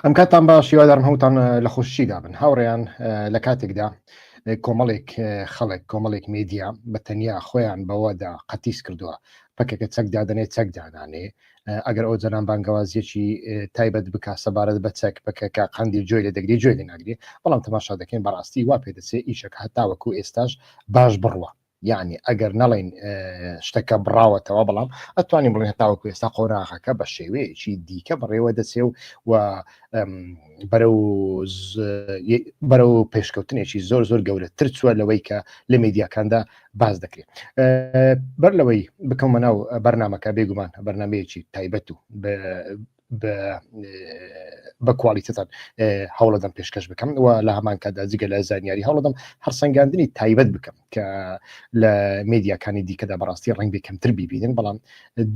ئەم کاتان باش یوادارم هەوتان لە خۆشی دابن هاوڕێیان لە کاتێکدا کۆمەڵێک خەڵک کۆمەڵێک مێدیا بە تەنیا خۆیان بەوەدا قەتیس کردووە پەکەکە چەک دادنێ چەک دانانێ ئەگەر ئەو جەنان بانگەوازیەکی تایبەت بک سەبارەت بە چەک بکەکە قندی جوێ لە دەگری جوێ لە ناگری بەڵام تەماشا دەکەین بەڕاستی وا پێ دەچێ ئیشەکە هەتاوەکو ئێستاش باش بڕوە یەعنی ئەگەر نەڵێین شتەکە بڕاوەتەوە بەڵام ئەتوانین بڵێن هەتاوەکو ئێستا قۆراغەکە بە شێوەیەکی دیکە بڕێوە دەچێ و و بەرە و پێشکەوتنێکی زۆر زۆر گەورەتر چووە لەوەی کە لە میدیاکاندا باز دەکرێت بەر لەوەی بکەمە ناو بەرنمەکە بێگومان بەرنمەیەکی تایبەت و بە کوالیتتان هەوڵەدەم پێشکەش بکەم و لە هەمان کادا جگە لە زانیاری هەوڵەدەم هەرسەنگاندنی تایبەت بکەم کە لە مدیاکانی دیکەدا بەڕاستی ڕنگ بکەمتر ببینن بەڵام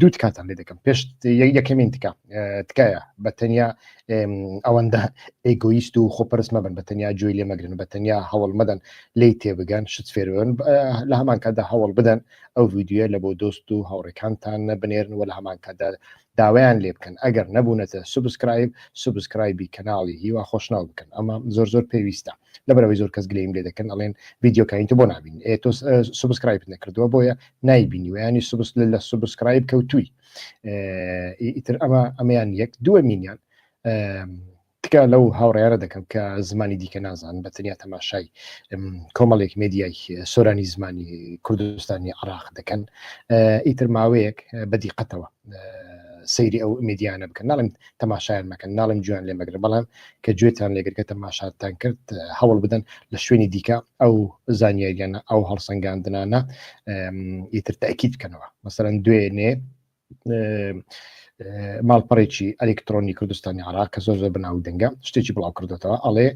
دوو تکاتان لێ دەکەم پێشت یەکەمین تکە تکایە بە تەنیا ئەوەندە ئەگویست و خۆپەرس مەبن بە تەنیا جوێی لێ مەگرن بە تەنیا هەوڵ مەدەن لی تێبگەن شت فێرن لە هەمان کاتدا هەوڵ بدەن ئەو ویددیوە لە بۆ دۆست و هاوڕێکانتان نەبنێرن و لە هەمان کاتدا داوایان لێ بکەن ئەگەر نەبونەتە سوبسکرایب سوبسکرایبی کەناڵی هیوا خۆشناو بکەن ئەمە زۆر زۆر پێویستە لەبەرئەوەی زۆر کەس گلەیم لێ دەکەن ئەڵێن ڤیدیۆ کانی تۆ بۆ نابین ئێ تۆ سوبسکرایبت نەکردووە بۆیە نایبینیوە ینی سوبس لە سوبسکرایب کەوتووی ئیتر ئەمە ئەمەیان یەک دووەمینیان تکا لەو هاوڕێیانە دەکەم کە زمانی دیکە نازان بە تەنیا تەماشای کۆمەڵێک مێدیای سۆرانی زمانی کوردستانی عراق دەکەن ئیتر ماوەیەک بە دیقەتەوە سەیری ئەو مێدیانە بکەن ناڵم تەماشایان مەکەن ناڵم جویان لێ مەگرن بەڵام کە گوێتان لێگرگە تەماشاتان کرد هەوڵ بدەن لە شوێنی دیکە ئەو زانیاریانە ئەو هەڵسەنگاندنانە ئیتر تاکییت بکەنەوە مەسەرەن دوێنێ ماڵپەڕێکی ئەلکترۆنی کوردستانی عراق کە زۆر زۆر بناو دەنگە شتێکی بڵاو کردێتەوە ئەڵێ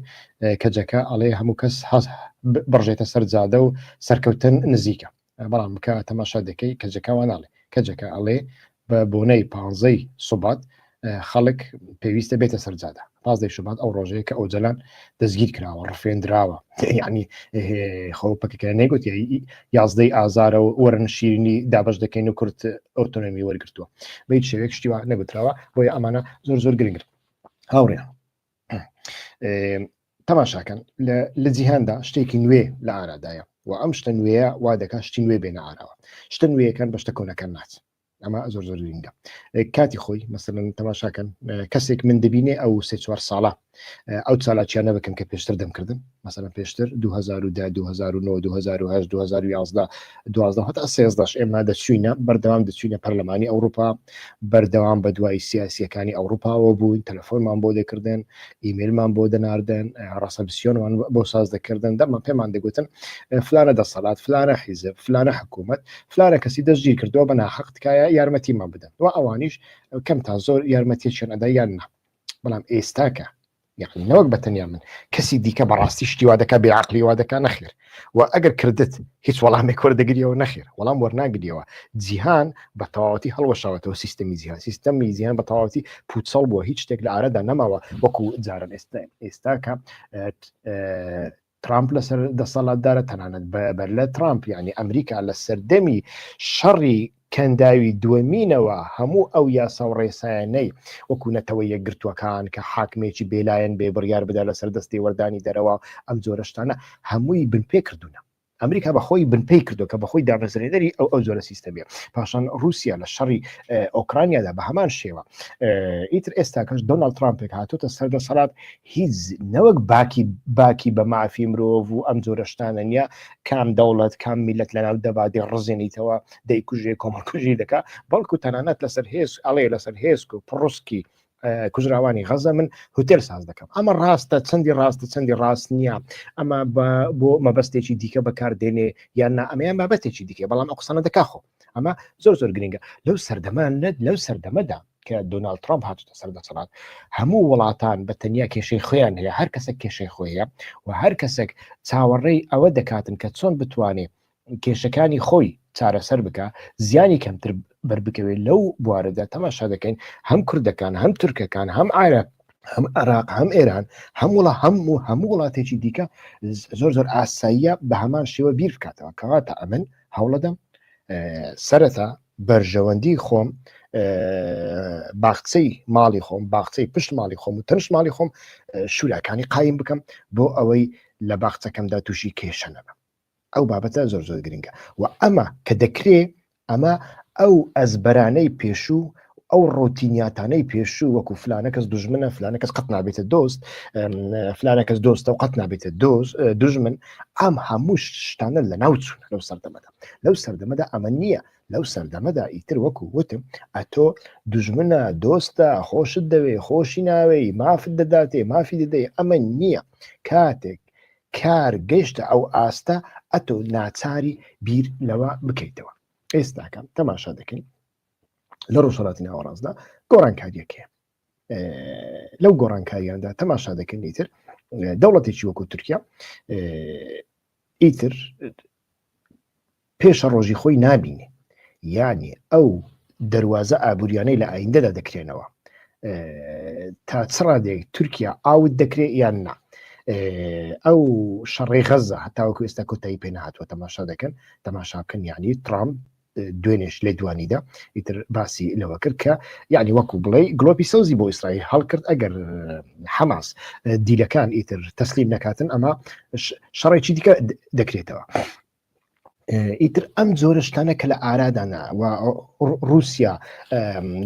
کەجەکە ئەڵێ هەموو کەس هەز بڕژێتە سەر جادە و سەرکەوتن نزیکە بەڵام بکە تەماشا دەکەی کەجەکەوانناڵێ کەجەکە ئەڵێ بە بۆنەی پانزەی سوبات خەڵک پێویستە بێتە سەرجادا پازدەی شوبات ئەو ڕۆژەیە کە ئۆجلان دەستگیر کراوە ڕفێندراوە ینی خۆ پکەکە نەگوت یازدەی ئازارە و وەرن شیرنی دابش دەکەین و کورت ئۆتۆنمی وەرگتووە بە شێوێک شتیوە نەگوتراوە بۆیە ئەمانە زۆر زۆر گرنگرن هاوڕێ تەماشاکەن لە جیهاندا شتێکی نوێ لە ئارادایە و ئەم شتە نوێە وا دەکات شتی نوێ بێنە ئاراوە شتە نوێیەکان بەشتە کۆنەکان ناچ ئەمە زۆر زۆر گرنگە کاتی خۆی مەسەن تەماشاکەن کەسێک من دەبینێ ئەو سێ چوار ساڵە ئەو چالاکیانە بکەم کە پێشتر دەمکردن مەسەن پێشتر 2010 2009 2010 2011 دوازدە هەتا سێزدەش ئێمە دەچوینە بەردەوام دەچوینە پەرلەمانی ئەوروپا بەردەوام بە دوای سیاسیەکانی ئەوروپاوە بووین تەلەفۆنمان بۆ دەکردن ئیمێلمان بۆ دەناردن ڕاستە بسیۆنمان بۆ ساز دەکردن دەمە پێمان دەگوتن فلانە دەسەڵات فلانە حیزب فلانە حکوومەت فلانە کەسی دەستگیر کردوە بە ناحەق تکایە یارمەتیمان بدەن و ئەوانیش کەم تا زۆر یارمەتیەکیان ئەدا یان نا بەڵام ئێستاکە یعنی نەوەک بەتەنیا من کەسی دیکە بەڕاستی شتیوا دەکە بێ عقلیوا دەکە نەخێر و ئەگەر کردت هیچ وەڵامێک وەردەگریەوە نەخێر وەڵام وەرناگریەوە جیهان بە تەواوەتی هەڵوەشاوەتەوە سیستمی جیهان سیستەمی جیهان بە تەواوەتی پوچەڵ بووە هیچ شتێک لە ئارەدا نەماوە وەکو جاران ئێستا ئێستاکە ترامپ لەسەر دەسەڵاتدارە تەنانەت بەر لە ترامپ یعنی ئەمریکا لە سەردەمی شەڕی کەنداوی دووەمینەوە هەموو ئەو یاسا و ڕێسایەنەی وەکوونەتەوە یەکگرتووەکان کە حاکمێکی بێلایەن بێ بڕیار بدا لەسەر دەستی وەردانی دەرەوە ئەم جۆرەشتانە هەمووی بنپێ کردوونە ئەمریکا بە خۆی بنپی کردو کە بەخۆی دامەزرێنەری ئەو ئەو جۆرە سیستەمیە پاشان رووسیا لە شەڕی ئۆکرانیادا بە هەمان شێوە ئیتر ئێستا کەش دۆناڵد ترامپێک هاتوتە سەردەسەڵات هیچ نەوەک باکی باکی بە مافی مرۆڤ و ئەم جۆرە شتانە نیە کام دەوڵەت کام میلەت لەناو دەبادی ڕزێنیتەوە دەیکوژێ کۆمەڵکوژی دەکا بەڵکو تەنانەت لەسەر هێز ئەڵێ لەسەر هێزک و پڕسکی کوژراوانی غەزە من هوتێل ساز دەکەم ئەمە ڕاستە چەندی ڕاستە چەندی ڕاست نییە ئەمە بۆ مەبەستێکی دیکە بەکاردێنێ یان نا ئەمەیان بابەتێکی دیکە بەڵام ئە قسانە دەکا خۆ ئەمە زۆر زۆر گرنگە لەو سەردەمان نەت لەو سەردەمەدا کە دۆناال ترامپ هاتوتە سەر دەسەڵات هەموو وڵاتان بە تەنیا کێشەی خۆیان هەیە هەر کەسە کێشەی خۆیە و هەر کەسێک چاوەڕێی ئەوە دەکاتن کە چۆن بتوانێت کێشەکانی خۆی چارەسەر بکە زیانی کەمتر بربکەوێت لەو بوارەدا تەماشا دەکەین هەم کوردەکان هەم تورکەکان هەم ئارە هەم عراق هەم ئێران هەم وڵە هەم و هەموو وڵاتێکی دیکە زۆر زۆر ئاساییە بە هەمان شێوە بیر بکاتەوە کەواتە ئەمن هەوڵەدەم سەرەتا بەرژەوەندی خۆم باخچەی ماڵی خۆم باخچەی پشت ماڵی خۆم و تەنش ماڵی خۆم شوراکانی قایم بکەم بۆ ئەوەی لە باخچەکەمدا تووشی کێشە نەبم ئەو بابەتە زۆر زۆر گرنگە و ئەمە کە دەکرێ ئەمە ئەو ئەزبەرانەی پێشوو ئەو ڕۆتینیاتانەی پێشوو وەکو فلانە کەس دژمنە فلانە کەس قەت نابێتە دۆست فلانە کەس دۆستە و قەت نابێتە دۆز دژمن ئەم هەموو شتانە لە ناو چوون لەو سەردەمەدا لەو سەردەمەدا ئەمە نییە لەو سەردەمەدا ئیتر وەکو وتم ئەتۆ دژمنە دۆستە خۆشت دەوێ خۆشی ناوێی مافت دەداتێ مافی دەدەی ئەمە نییە کاتێک کار گەشتە ئەو ئاستە ئەتۆ ناچاری بیر لەوە بکەیتەوە ئێستاکەم تەماشا دەکەین لە ڕۆژهڵاتی ناوەڕاستدا گۆڕانکاریەکەیە لەو گۆڕانکاریاندا تەماشا دەکەن ئیتر دەوڵەتێکی وەکو تورکیا ئیتر پێشە ڕۆژی خۆی نابینێ یعنی ئەو دەواازە ئابوووریانەی لە ئایندەدا دەکرێنەوە تا چ ڕادێک تورکیا ئاوت دەکرێت یان نا ئەو شەڕێ غەزە هەتاوەکو ئێستا کۆتایی پێ نهاتوە تەماشا دەکەن تەماشاکەن یعنی ترامپ دوێنێش لێدوانیدا ئیتر باسی لەوە کرد کە یعنی وەکو بڵێ گلۆپی سەوزی بۆ ئیسرائیل هەڵکرد ئەگەر حەماس دیلەکان ئیتر تەسلیم نەکاتن ئەمە شەڕێکی دیکە دەکرێتەوە. ئیتر ئەم جۆرەشتانە کە لە ئارادانا و رووسیا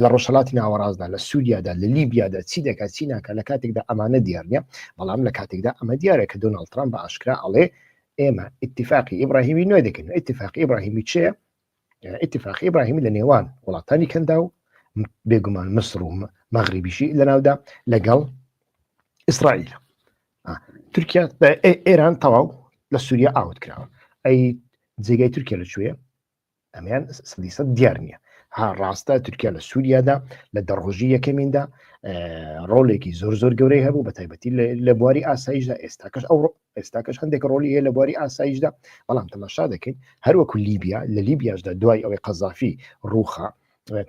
لە ڕۆژهڵاتی ناوەڕاستدا لە سووریادا لە لیبیادا چی دەکات چی ناکە لە کاتێکدا ئەمانە دیارە بەڵام لە کاتێکدا ئەمە دیارە کە دۆناڵ ترامپ بە ئاشکرا ئەڵێ ئێمە ئیتفاقی ئیبراهیمی نوێ دەکەن ئیتفاقی ئیبراهیمی چێ ئیتفاقی ئیبراهیمی لە نێوان وڵاتانی کەندا و بێگومان مسر و مەغریبیشی لەناودا لەگەڵ ئیسرائیل تورکیا ئێران تەواو لە سووریا ئاوت کراوە ئەی جێگای تورکیا لە کوێە ئەمیان سەدی سەد دیار نییە ها ڕاستە تورکیا لە سووریادا لە دەڕۆژی یەکەمیندا ڕۆلێکی زۆر زۆر گەورەی هەبوو بە تایبەتی لە بواری ئاساییشدا ئێستاکەش ئەو ئێستاکەش هەندێک ڕۆلی هەیە لە بواری ئاساییشدا بەڵام تەماشا دەکەین هەروەکو لیبیا لە لیبیاشدا دوای ئەوەی قەزافی ڕوخە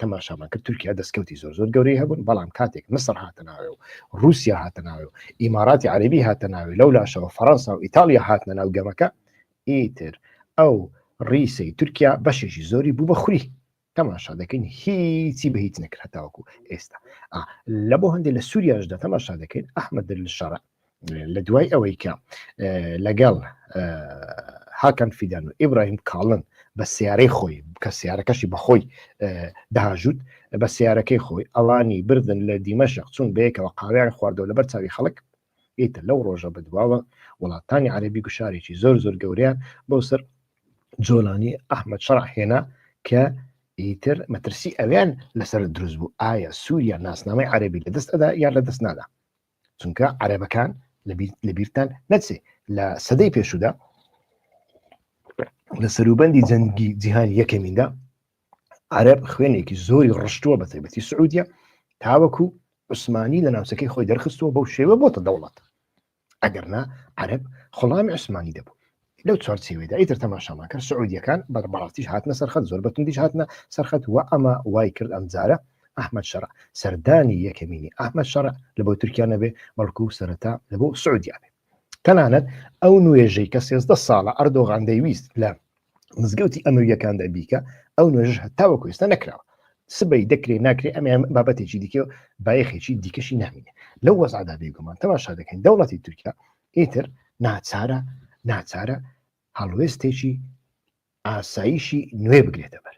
تەماشامان کرد تورکیا دەستکەوتی زۆر زۆر گەورەی هەبوون بەڵام کاتێک مسر هاتە ناوێ و رووسیا هاتە ناوێ و ئیماراتی عەربی هاتە ناوێ لەو لاشەوە فەرەنسا و ئیتالیا هاتنە ناو گەمەکە ئیتر ئەو ڕیسەی تورکیا بەشێکی زۆری بوو بە خوری تەماشا دەکەین هیچی بە هیچ نەکرد هەتاوەکو ئێستا لە بۆ هەندێک لە سووریاشدا تەماشا دەکەین ئەحمد دل شەڕ لە دوای ئەوەی کە لەگەڵ هاکەن فیدان و ئیبراهیم کاڵن بە سیارەی خۆی کە سیارەکەشی بەخۆی داژوت بە سیارەکەی خۆی ئەوانی بردن لە دیمەشق چون بەیەکەوە قاویان خواردەوە لەبەر چاوی خەڵک ئیتر لەو ڕۆژە بەدواوە وڵاتانی عەرەبی گوشارێکی زۆر زۆر گەورەیان بۆ سەر جۆلانی ئەحمد شەڕع هێنا کە ئیتر مەترسی ئەویان لەسەر دروست بوو ئایا سووریا ناسنامەی عەربی لە دەست ئەدا یان لە دەست نادا چونکە عەرەبەکان لە بیرتان نەچێ لە سەدەی پێشودا لە سەروبەندی جەنگی جیهان یەکەمیندا عەرەب خوێنێکی زۆری ڕشتووە بە تایبەتی سعودیە تاوەکو عوسمانی لە ناوچەکەی خۆی دەرخستووە بەو شێوە بۆتە دەوڵەت ئەگەرنا عەرب خڵامی عوسمانی دەبوو لەو چوارچێوێدا ئیتر تەماشامان کرد سعودیەکان بەربڕاتیش هاتنە سەرخەت زۆر بەتوندیش هاتنە سەرخەت و ئەمە وای کرد ئەم جارە ئەحمد شەرع سەردانی یەکەمینی ئەحمد شەرع لە بۆ تورکیا نەبێ بەڵکو سەرەتا لە بۆ سعودیا بێ تەنانەت ئەو نوێژەی کە سێزدە ساڵە ئەردۆغان دەیویست لە مزگەوتی ئەمەویەکاندا بیکە ئەو نوێژش هەتاوە کوێستە نەکراوە سبەی دەکرێت ناکرێت ئەمە بابەتێکی دیکە و بایەخێکی دیکەشی نامینێ لەو وەزعدا بێگومان تەماشا دەکەین دەوڵەتی تورکیا ئیتر ناچارە ناچارە هەڵوێستێکی ئاساییشی نوێ بگرێتە بەر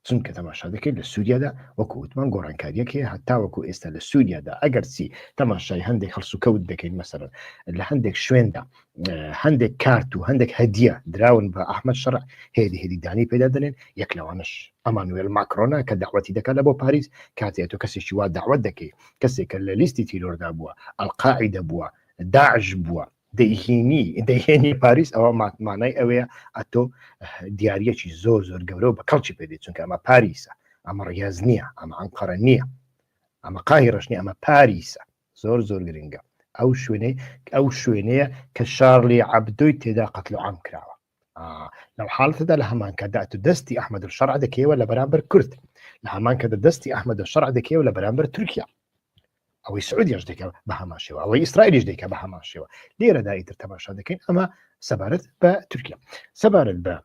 چونکە تەماشا دەکەیت لە سووریادا وەکو وتمان گۆڕانکاریەک هەیە هەتاوەکو ئێستا لە سووریادا ئەگەر چی تەماشای هەندێک هەڵسوکەوت دەکەین مەسەر لە هەندێک شوێندا هەندێک کارت و هەندێک هەدیە دراون بە ئەحمد شەڕ هێدی هێدیدانی پێدا دەنێن یەک لەوانش ئەمانوێل ماکرۆنا کە داوەتی دەکات لە بۆ پاریس کاتێت تۆ کەسێکی وا داوت دەکەیت کەسێکە لە لیستی تیرۆردا بووە ئەلقاعی دەبووە داعش بووە دەیهێنی دەیهێنی پاریس ئەوە ماتمانای ئەوەیە ئەتۆ دیارەکی زۆر زۆر گەورە بە کەڵکی پێدی چونکە ئەمە پاریسە ئەمە ڕێز نییە ئەمە ئەنقەرە نییە ئەمە قای ڕشنی ئەمە پاریسە زۆر زۆر گرنگە ئەو شوێنەی ئەو شوێنەیە کە شارلی عبدۆی تێدا قەتل عام کراوە لەو حاڵەتەدا لە هەمان کاتدا تو دەستی ئەحمد شەرع دەکەیەوە لە بەرامبەر کورد لە هەمان کە دەستی ئەحمد شەرع دەکەیەوە لە بەرامبەر تورکیا ئەوەی سعودیش دەکە بە هەمان شێوە ئەوەی ئیسرائیلیش دەکە بە هەمان شێوە لێرەدا ئیتر تەماشا دەکەین ئەمە سەبارەت بە تورکیا سەبارەت بە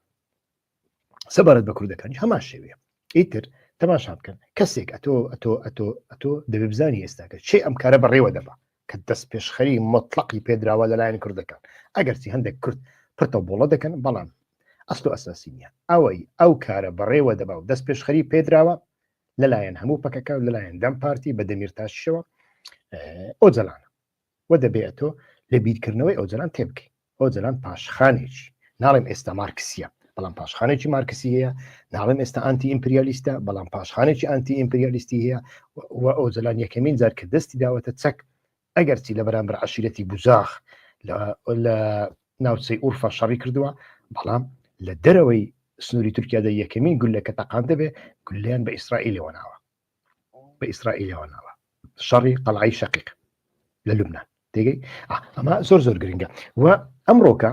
سەبارەت بە کوردەکانی هەمان شێوێ ئیتر تەماشا بکەن کەسێک ئەتۆ ئەتۆ ئەتۆ ئەتۆ دەبێ بزانانی ئێستاکە چی ئەم کارە بەڕێوە دەبە کە دەستپێشخەری مۆتڵەقی پێدراوە لەلایەن کوردەکان ئەگەرچی هەندێک کورد پرتە بۆڵە دەکەن بەڵام ئەسڵ ئەساسی نییە ئەوەی ئەو کارە بەڕێوە دەبا و دەست پێشخەری پێدراوە لەلایەن هەموو پەکەکە و لەلایەن دەم پارتی بە دەمیر تاشەوە ئۆجلانە وە دەبێت تۆ لە بیرکردنەوەی ئۆجلان تێبکەیت ئۆجەلان پاشخانێکی ناڵێم ئێستا مارکسیە بەڵام پاشخانێکی مارکسی هەیە ناڵێم ئێستا ئەنتی ئیمپریالیستە بەڵام پاشخانێکی ئەنتی ئیمپریالیستی هەیە و ئۆجەلان یەکەمین جار کە دەستی داوەتە چەک ئەگەرچی لە بەرامبەر عشیرەتی بزاخ لە ناوچەی ئورفا شەڕی کردووە بەڵام لە دەرەوەی سنووری تورکیادا یەکەمین گولەکە تەقان دەبێ گولیان بە ئیسرائیلەوە ناوە بە ئیسرائیلەوە ناوە شەڕی قەڵعی شەقیق لە لوبناان تێگەی ئەمە زۆر زۆر گرنگە و ئەمڕۆکە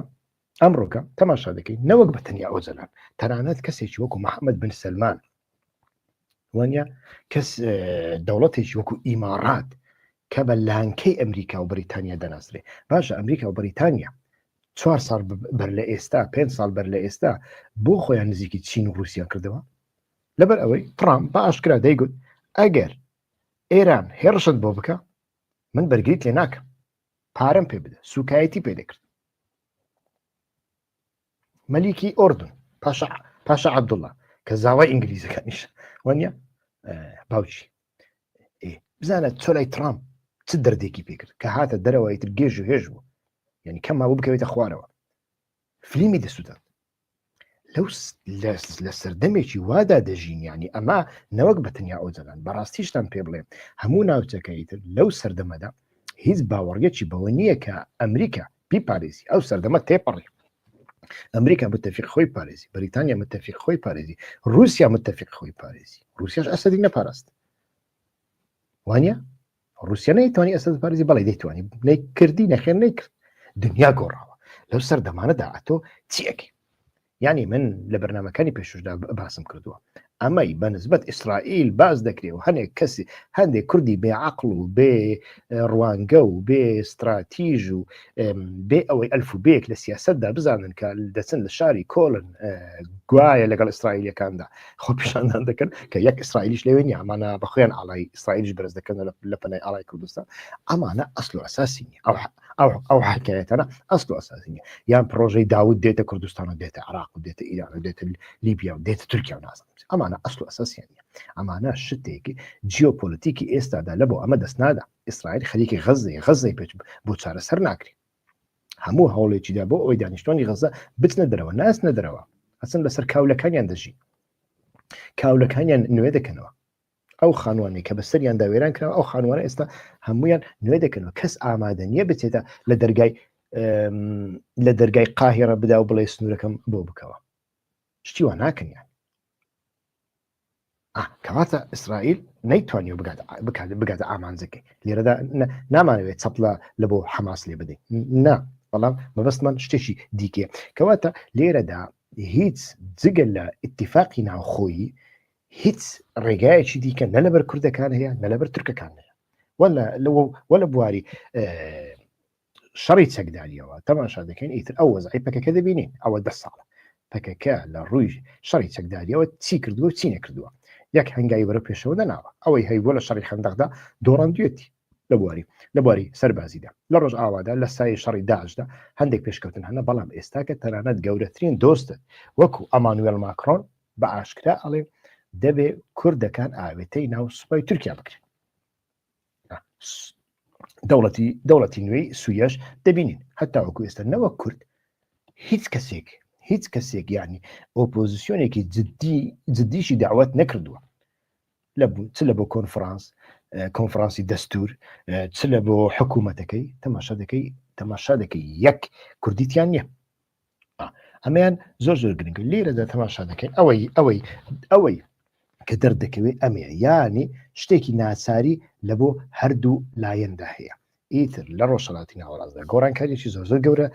ئەمڕۆکە تەماشا دەکەین نەوەک بە تەنیا ئۆزەلان تەرانەت کەسێکی وەکو محەممەد بن سلمان وانە کەس دەوڵەتێکی وەکو ئیمارات کە بە لانکەی ئەمریکا و بریتانیا دەناسرێ باشە ئەمریکا و بریتانیا چوار ساڵ بەر لە ئێستا پێ ساڵ بەر لە ئێستا بۆ خۆیان نزیکی چین و رووسیا کردەوە لەبەر ئەوەی ترامپ بە ئاشکرا دەیگوت ئەگەر ئێران هێڕشت بۆ بکە من بەرگیت لێ ناکەم پارەم پێ بدە سوکایەتی پێ دەکرد مەلیکی ئۆردن پاشا پاشا عبدوڵە کە زاوای ئینگلیزەکانیش وانە باوچی بزانە تۆ لای ترامپ چ دەردێکی پێکرد کە هاتە دەرەوەی تر گێژ و هێژ بوو یعنی کەم ماوە بکەوێتە خوارەوە فلیمی دەسووتن لەو لە سەردەمێکی وادا دەژین ینی ئەمە نەوەک بە تەنیا ئۆجەلان بەڕاستیشتان پێ بڵێ هەموو ناوچەکەی تر لەو سەردەمەدا هیچ باوەڕیەکی بەوە نییە کە ئەمریکا پی پارێزی ئەو سەردەمە تێپەڕی ئەمریکا متتەفیق خۆی پارێزی بریتانیا متتەفیق خۆی پارێزی رووسیا متتەفیق خۆی پارێزی رووسیاش ئەسەدی نەپاراست وانە رووسیا نەیتوانی ئەسەد بارزی بەڵی دەیتوانی نەی کردی نەخێن نەی کرد دنیا گۆڕاوە لەو سەر دەمانەدا ئەتۆ چیەکی یعنی من لە بەرنمەکانی پێششدا باسم کردووە ئەمەی بە نسبت ئیسرائیل باز دەکرێ و هەنێک کەسی هەندێک کوردی بێ عقل و بێ ڕوانگە و بێ استراتیژ و بێ ئەوەی ئەلف و بێک لە سیاستدا بزانن کە دەچن لە شاری کۆلن گوایە لەگەڵ ئیسرائیلەکاندا خۆ پیشاندان دەکەن کە یەک ئیسرائیلیش لەوێ نیە ئەمانە بەخۆیان ئاڵای ئیسرائیلیش بەرز دەکەن لە پەنای ئاڵای کوردستان ئەمانە ئەسل و ئەساسی نیە ئەو ئەو حکایەتەنە ئەسل و ئەساسی نیە یان پرۆژەی داود دێتە کوردستان و دێتە عراق و دێتە ئیران و دێتە لیبیا و دێتە تورکیا و نازم ئەمانە ئەسل و ئەساسیان نیە ئەمانە شتێکی جیۆپۆلیتیکی ئێستادا لە بۆ ئەمە دەستنادا ئیسرائیل خەریکی غەززەی غەززەی پێچ بۆ چارەسەر ناکرێت هەموو هەوڵێکیدا بۆ ئەوی دانیشتوانی غەزە بچنە دەرەوە ناسنە دەرەوە ئەسن بەسەر کاولەکانیان دەژی کاولەکانیان نوێ دەکەنەوە ئەو خانوانەی کە بەسەریان داوێران کراوە ئەو خانوانە ئێستا هەمویان نوێ دەکەنەوە کەس ئامادە نییە بچێتە لە دەرگای لە دەرگای قاهێڕە بدا و بڵێ سنوورەکەم بۆ بکەوە شتیوان ناکەنیان ئا کەواتە ئیسرائیل نەیتوانیەوە بگات بکات بگاتە ئامانجەکەی لێرەدا نامانەوێت چەپلە لە بۆ حەماس لێ بدەین نا بەڵام مەبەستمان شتێکی دیکێ کەواتە لێرەدا هیچ جگە لە اتفاقی ناوخۆیی هیچ ڕێگایەکی دیکە نە لەبەر کوردەکان هەیە نە لەبەر ترکەکان هەیە وە لە بواری شەڕی چەکداریەوە تەماشا دەکەین ئیتر ئەو وەزعی پەکەکە دەبینین ئەوە دە ساڵە پەکەکە لە ڕووی شەڕی چەکداریەوە چی کردووە چی نەکردووە یەک هەنگاوی بەرە پێشەوە نەناوە ئەوەی هەیبووە لە شەڕی خەندەقدا دۆڕاندوێتی لە بواری لە بواری سەربازیدا لە ڕۆژ ئاوادا لە سای شەڕی داشدا هەندێک پێشکەوتن هەنە بەڵام ئێستا کە تەنانەت گەورەترین دۆستت وەکو ئەمانوێل ماکرۆن بە ئاشکرا ئەڵێ دەبێ کوردەکان ئاوێتەی ناو سوپای تورکیا بکرێن دەوڵەتی دەوڵەتی نوێی سویەش دەبینین هەتا وەکو ئێستا نەوە کورد هیچ کەسێک هیچ کەسێک ینی ئۆپۆزیسیۆنێکی جددی جددیشی داوت نەکردووە لە چ لە بۆ کۆنفرانس کۆنفرانسی دەستور چ لە بۆ حکوومەتەکەی تەماشا دەکەی تەماشا دەکەی یەک کوردیتیان نییە ئەمەیان زۆر زۆر گرنگ لێرەدا تەماشا دەکەین ئەوەی ئەوەی ئەوەی کە دەردەکەوێت ئەمەیە یانی شتێکی ناچاری لە بۆ هەردوو لایەندا هەیە ئیتر لە ڕۆژهڵاتی ناوەڕاستدا گۆڕانکاریی زۆر زۆر گەورە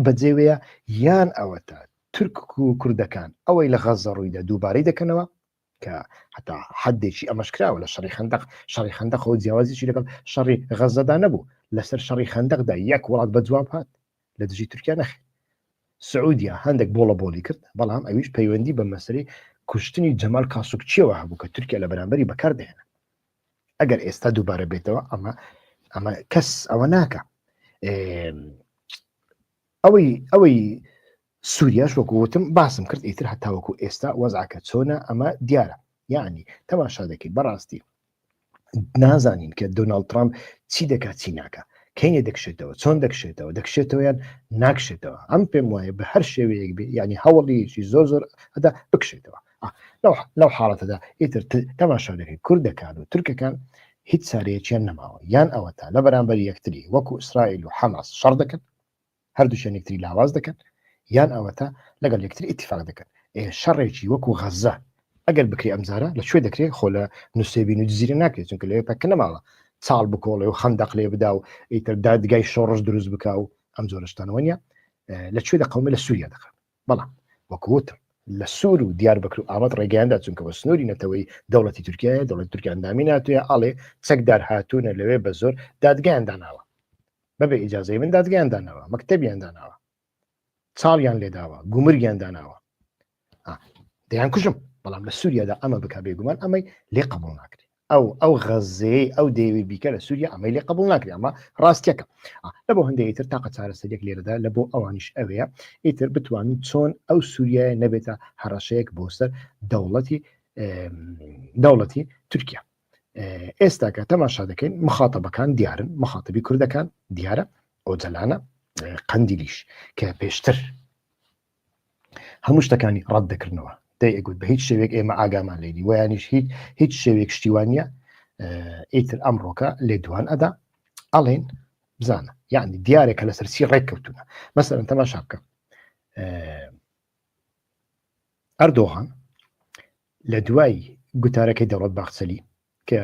بەجێوەیە یان ئەوەتە تورک و کوردەکان ئەوەی لە غەزە ڕوویدا دووبارەی دەکەنەوە کە حتا حدێکی ئەمەش کراوە لە شەڕی خندق شەڕی خندەقەوە جیاوازیی لەگەڵ شەڕی غەزەدا نەبوو لەسەر شەڕی خندەقدا یەک وڵات بە جواب هات لە دژی تورکیا نەخێ سعودیا هەندێک بۆڵە بۆلی کرد بەڵام ئەویش پەیوەندی بە مەسری کوشتنی جەمال کاسوکچیەوە هەبوو کە تورکیا لە بەرامبەری بەکاردێنە ئەگەر ئێستا دووبارە بێتەوە ئەمە ئەمە کەس ئەوە ناکە ئەوەی ئەوەی سوریاش وەکو وتم باسم کرد ئیتر هەتاوەکو ئێستا وەزعکە چۆنە ئەمە دیارە یعنی تەماشا دەکەین بەڕاستی نازانین کە دۆناڵد ترامپ چی دەکات چی ناکە کەینێ دەکشێتەوە چۆن دەکشێتەوە دەکشێتەوەیان ناکشێتەوە ئەم پێم وایە بە هەر شێوەیەک بێ ینی هەوڵیشی زۆر زۆر ئەدا بکشێتەوە لەو حاڵەتەدا ئیتر تەماشا دەکەین کوردەکان و ترکەکان هیچ چارەیەکیان نەماوە یان ئەوە تا لە بەرامبەر یەکتری وەکو ئیسرائیل و حەماس شەڕ دەکەن هەردووکیان یەکتری لاواز دەکەن یان ئەوەتا لەگەڵ یەکتر ئیتیفاق دەکەن ئێ شەڕێکی وەکو غەزە ئەگەر بکرێ ئەمجارە لە کوێ دەکرێ خۆ لە نووسێبین و جزیرە ناکرێت چونکە لەوێ پەکە نەماوە چاڵ بکۆڵێ و خەندەق لێ بدا و ئیتر دادگای شۆڕش دروست بکا و ئەم جۆرەشتانەوە نیە لە کوێ دەقەومە لە سووریا دەکەن بەڵام وەکوتم لە سوور و دیار بەکر و ئاوات ڕێگەیاندا چونکە بە سنووری نەتەوەی دەوڵەتی تورکایە دەوڵەت تورکیاندامی ناتوێ ئاڵێ چەکدار هاتوونە لەوێ بە زۆر دادگەیان داناوە بەبێ ئیجازەی من دادگەیان داناوە مەکتتەبیان داناوە چاڵیان لێداوە گومریان داناوە دەیان کوژم بەڵام لە سووریادا ئەمە بک بێگومان ئەمەی لێ قبول ناکرێت ئەو ئەو غەزەیە ئەو دەیەوی بیکە لە سووریا ئەمەی لێ قبول ناکرێت ئەمە ڕاستیەکە لە بۆ هەندێک تر تاقە چارەسەرێک لێرەدا لە بۆ ئەوانیش ئەوەیە ئیتر بتوانین چۆن ئەو سووریای نەبێتە هەڕەشەیەک بۆ سەر دەوڵەتی دەوڵەتی تورکیا ئێستا کە تەماشا دەکەین مخاتەبەکان دیارن مخاتبی کوردەکان دیارە ئۆجلانە قندیلیش کە پێشتر هەموو شتەکانی ڕەت دەکردنەوە دەی ئەگوت بە هیچ شێوێک ئێمە ئاگامان لێنی ویانیش هیچ هیچ شێوێک شتیوانە ئیتر ئەمڕۆکە لێ دوان ئەدا ئەڵێن بزانە یعنی دیارە کە لەسەر چی ڕێک کەوتونە مەسەرن تەماشا بکە ئەردۆغان لە دوای گوتارەکەی دەوڵەت باخچەلی کە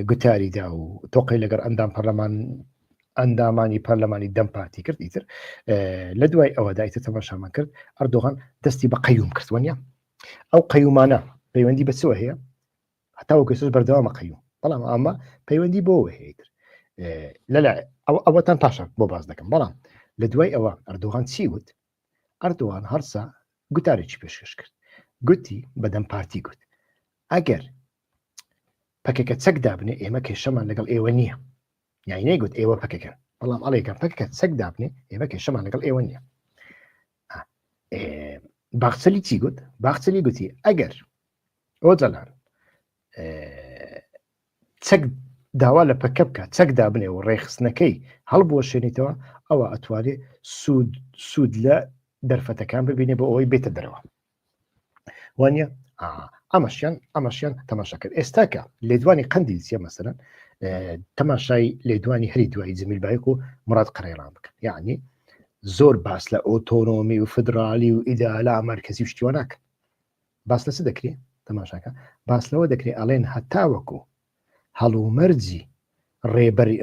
گوتاریدا و تۆقی لەگەر ئەندام پەرلەمان ئەندامانی پەرلەمانی دەم پارتی کرد ئیتر لە دوای ئەوە دایتە تەماشامان کرد ئەردۆغان دەستی بە قەیوم کردوەنیە ئەو قەیومانە پەیوەندی بە چوە هەیە هەتاوە گەسوس بەردەوامە قەیوم بەڵام ئەمە پەیوەندی بۆ هەیەتر لەلا ئەوەتان پاشان بۆ باز دەکەم بەڵام لە دوای ئەوە ئەردۆغان چی وت ئەردوان هەڵسا گوتارێکی پێشکەش کرد گوتی بە دەم پارتی گوت ئەگەر پەکەکە چەک دابنێ ئێمە کێشەمان لەگەڵ ئێوە نییە یای نەیگوت ئێوە پەکەکەن بەڵام ئەڵێکەم پەکەکە چەک دابنێ ئێمە کێشەمان لەگەڵ ئێوە نییە باخچەلی چی گوت باخچەلی گوتی ئەگەر ئۆجەلان چەک داوا لە پەکە بکە چەک دابنێ و ڕێخستنەکەی هەڵبوەشێنیتەوە ئەوە ئەتوانێت سوود سوود لە دەرفەتەکان ببینێ بۆ ئەوەی بێتە دەرەوە وانە ئەمەشیان ئەمەشیان تەماشا کرد ئێستاکە لێدوانی قندی سیە مەسەرەن تەماشای لێدوانی هەری دوای زمیل بایک و مراد قڕێران بکەن یعنی زۆر باس لە ئۆتۆنۆمی و فدرالی و ئیدالا مەرکزی شتیوانناکە باس لە چ دەکرێ؟ تەماشاکە باس لەوە دەکرێ ئەڵێن هەتاوەکو هەڵومەرجی ڕێبەری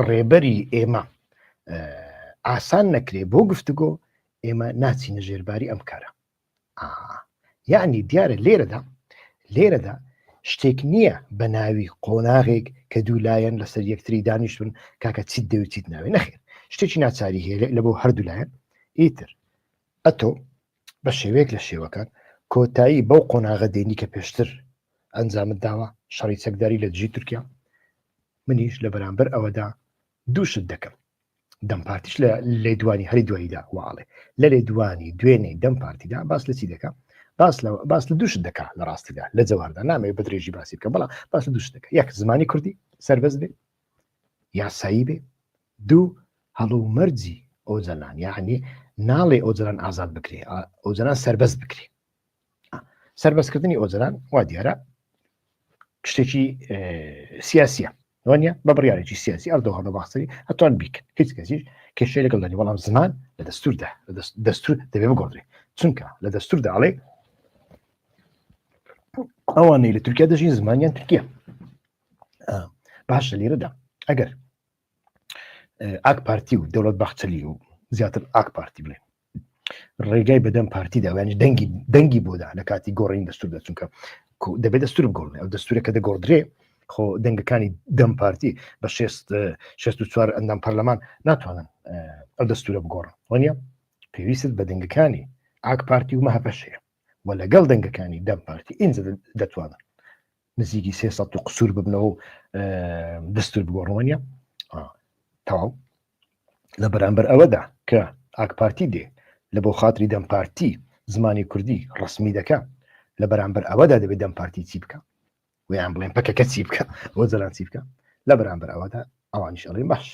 ڕێبەری ئێمە ئاسان نەکرێ بۆ گفتگۆ ئێمە ناچینە ژێرباری ئەم کارە یعنی دیارە لێرەدا لێرەدا شتێک نییە بە ناوی قۆناغێک کە دوو لایەن لەسەر یەکتری دانیشتون کاکە چیت دەوتیت ناوێ نەخێر شتێکی ناچاری هەیە لە بۆ هەردوو لایەن ئیتر ئەتۆ بە شێوەیەک لە شێوەکان کۆتایی بەو قۆناغە دێنی کە پێشتر ئەنجامت داوە شەڕی چەکداری لە دژی تورکیا منیش لە بەرامبەر ئەوەدا دووشت دەکەم دەم پارتیش لە لێدوانی هەری دواییدا واڵێ لە لێدوانی دوێنێ دەم پارتیدا باس لە چی دەکەم باس لە باس لە دووشت دەکا لە ڕاستیدا لە جەواردا نامەوێت بە درێژی باسی بکە بەڵام باس لە دووشت دەکە یەک زمانی کوردی سربەز بێ یاسایی بێ دوو، هەڵومەرجی ئۆجەلان، یەعنی ناڵێی ئۆجەلان ئازاد بکرێ، ئۆجەلان سەربەست بکرێ. سەربەستکردنی ئۆجەلان وا دیارە شتێکی سیاسیە وانە بە بڕارێکی سیاسی ئەردۆ هەڵە باخسەری ئەتوان بیکن هیچ کەسیش کێشەی لەگەڵ دەنی بەڵام زمان لە دەستوردا دەستور دەبێ بگۆڕێ چونکە لە دەستوردا ئەڵێ ئەوانەی لە تورکیا دەژین زمانیان تورکیا باشە لێرەدا ئەگەر ئاک پارتی و دەوڵەت بەخچەلی و زیاتر ئاک پارتی بڵێ ڕێگای بەدەم پارتی داوایانی دەنگی دەنگی بۆدا لە کاتی گۆڕین دەستور دەچونکە دەبێت دەستور بگۆڕێ ئەو دەستورە کە دەگۆڕدرێ خۆ دەنگەکانی دەم پارتی بە 64 ئەندام پەرلەمان ناتوانن ئەو دەستورە بگۆڕن وانە پێویست بە دەنگەکانی ئاک پارتی و مەهپەشەیە و لەگەڵ دەنگەکانی دەم پارتی ئینجا دەتوانن نزیکی سێ سەد و قسوور ببنەوە و دەستور بگۆڕنەوەنیە تەواو لە بەرامبەر ئەوەدا کە ئاکپارتی دێ لە بۆ خاتری دەمپارتی زمانی کوردی ڕسمی دەکە لە بەرامبەر ئەوەدا دەبێت دەمپارتی چی بکە ویان بڵێن پەکەکە چی بکە بۆ جەران چی بکە لە بەرامبەر ئەوەدا ئەوانیش ئەڵێ باش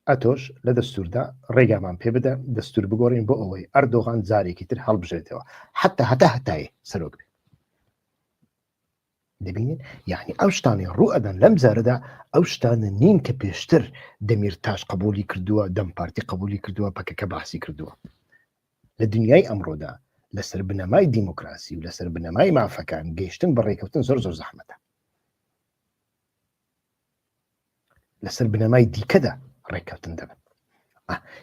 ئەتۆش لە دەستوردا ڕێگامان پێ بدە دەستور بگۆڕین بۆ ئەوەی ئەردۆغان جارێکی تر هەڵبژێتەوە حتا هەتا هەتای سەرۆک بێت دەبینێت یعنی ئەو شتانەی ڕوو ئەدەن لەم جارەدا ئەو شتانە نین کە پێشتر دەمیر تاش قبولی کردووە دەم پارتی قبولی کردووە پەکەکە باسی کردووە لە دنیای ئەمڕۆدا لەسەر بنەمای دیموکراسی و لەسەر بنەمای مافەکان گەیشتن بە ڕێککەوتن زۆر زۆر زەحمەتە لەسەر بنەمای دیکەدا ڕێککەوتن دەبن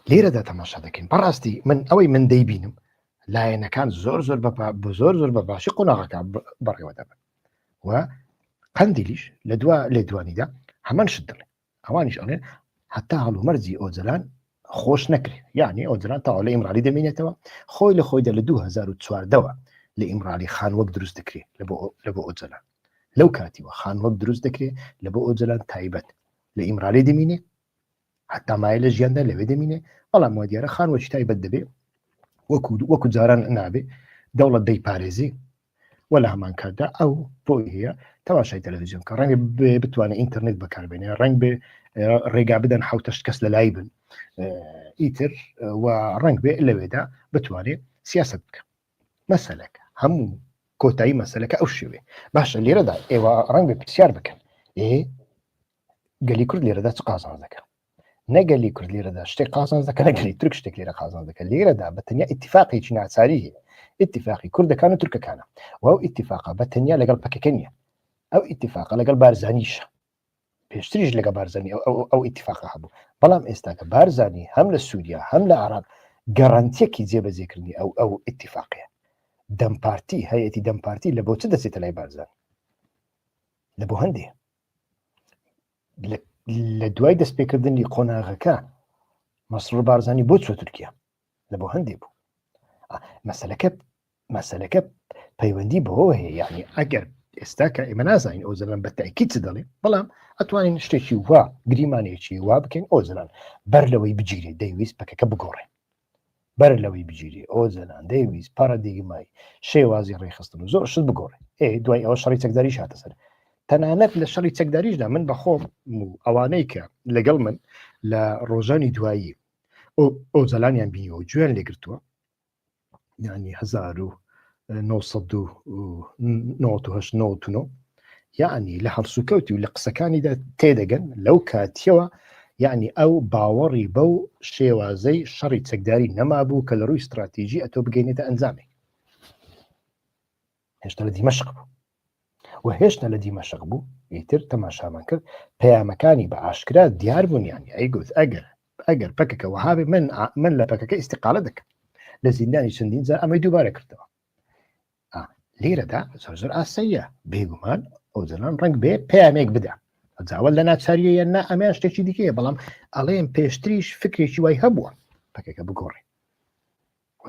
لێرەدا تەماشا دەکەین بەڕاستی من ئەوەی من دەیبینم لایەنەکان زۆر زۆر بە زۆر زۆر بە باشی قۆناغەکە بەڕێوە دەبن و قندیلیش لە دو لێ دوانیدا هەمان شت دڵێ ئەوانیش ئەڵێن هەتا هەڵومەرزی ئۆجلان خۆش نەکرێ یعنی ئۆجلان تاوا لە ئیمرالی دەمینێتەوە خۆی لە خۆیدا لە 2014ەوە لە ئیمرالی خان وەک دروست دەکرێ لە بۆ ئۆجلان لەو کاتیوە خان وەک دروست دەکرێ لە بۆ ئۆجلان تایبەت لە ئیمرالی دەمینێ حتا مایە لە ژیاندا لەوێ دەمینێ بەڵام وە دیارە خان وەچی تایبەت دەبێ وەکو وەکو جاران نابێ دەوڵەت دەی پارێزی وە لە هەمان کاتدا ئەو بۆی هەیە تەواشای تەلەڤزیۆن کە ڕەنگە بێ بتوانێت ئینتەرنێت بەکاربێنێ ڕنگ بێ ڕێگا بدەن حوتەشت کەس لە لای بن ئیتر و ڕنگ بێ لەوێدا بتوانێت سیاست بکە مەسلەکە هەموو کۆتایی مەسلەکە ئەو شوێ باشە لێرەدا ئێوە ڕنگ بێ پرسیار بکەن ئێ گەلی کورد لێرەدا چ قازان دەکەن نەگەلی کورد لیرەدا شتێک قازان دەکە نەگەلی ترک شتێک لێرە قازان دەکە لێرەدا بە تەنیا اتفاقێکی ناچاری هەیە اتفاقی کوردەکان و تورکەکانە و ئەو اتفاقا بە تەنیا لەگەڵ پەکەکە نیە ئەو اتفاقا لەگەڵ بارزانیشە پێشتریش لەگە بارزانانی ئەو اتفاقا هەبوو بەڵام ئێستاکە بارزانانی هەم لە سووریا هەم لە عراق گەڕانتیەکی جێبەجێکردنی ئەو ئەو اتفاقەیە دەمپارتی هەیەتی دەمپارتی لە بۆچ دەچێتە لای بارزان لە بۆ هەندێ لە دوای دەستپێکردنی قۆناغەکە مەسرور بارزانانی بۆ چوە تورکیا لە بۆ هەندێک بوو مەسلەکە مەسلەکە پەیوەندی بەوە هەیە یعنی ئەگەر ئێستا کە ئێمە نازانین ئەو زەلان بە تاکی چ دەڵێ بەڵام ئەتوانین شتێکی وا گریمانێکی وا بکەین ئەو زەلان بەر لەوەی بگیرێت دەیویست پەکەکە بگۆڕێ بەر لەوەی بگیری ئەو زەلان دەیویست پارە دیگمای شێوازی ڕێخستن و زۆر شت بگۆڕێ ئێ دوای ئەوە شەڕی چەکداری شاتە سەر تەنانەت لە شەڕی چەکداریشدا من بەخۆم و ئەوانەی کە لەگەڵ من لە ڕۆژانی دوایی ئەو زەلانیان بینیەوە گوێن لێگرتووە ینی هزار و 1970 یعنی لە هەڵسوکەوتی و لە قسەکانیدا تێدەگەن لەو کاتیەوە یعنی ئەو باوەڕی بەو شێوازەی شەڕی چەکداری نەمابوو کە لە ڕووی استراتیژی ئەتۆ بگەینێتە ئەنجامی هێشتا لە دیمەشق بوو و هێشتا لە دیمەشق بوو ئیتر تەماشامان کرد پەیامەکانی بە ئاشکرا دیار بوونیانی ئەیگوت ئەگەر ئەگەر پەکەکە وەهابێ من من لە پەکەکە ئیسیقالە دەکەم لە زیندانی چەندین جار ئەمەی دووبارە کردەوە لێرەدا زۆر زۆر ئاسەیە بێگومان ئەو جەنان ڕنگ بێ پامێک بدە جاوە لە ناچاریە یان نا ئەمیان شتێکی دیکەیە بەڵام ئەڵێن پێشتریش فکرێکی وای هەبووە پەکەکە بگۆڕێ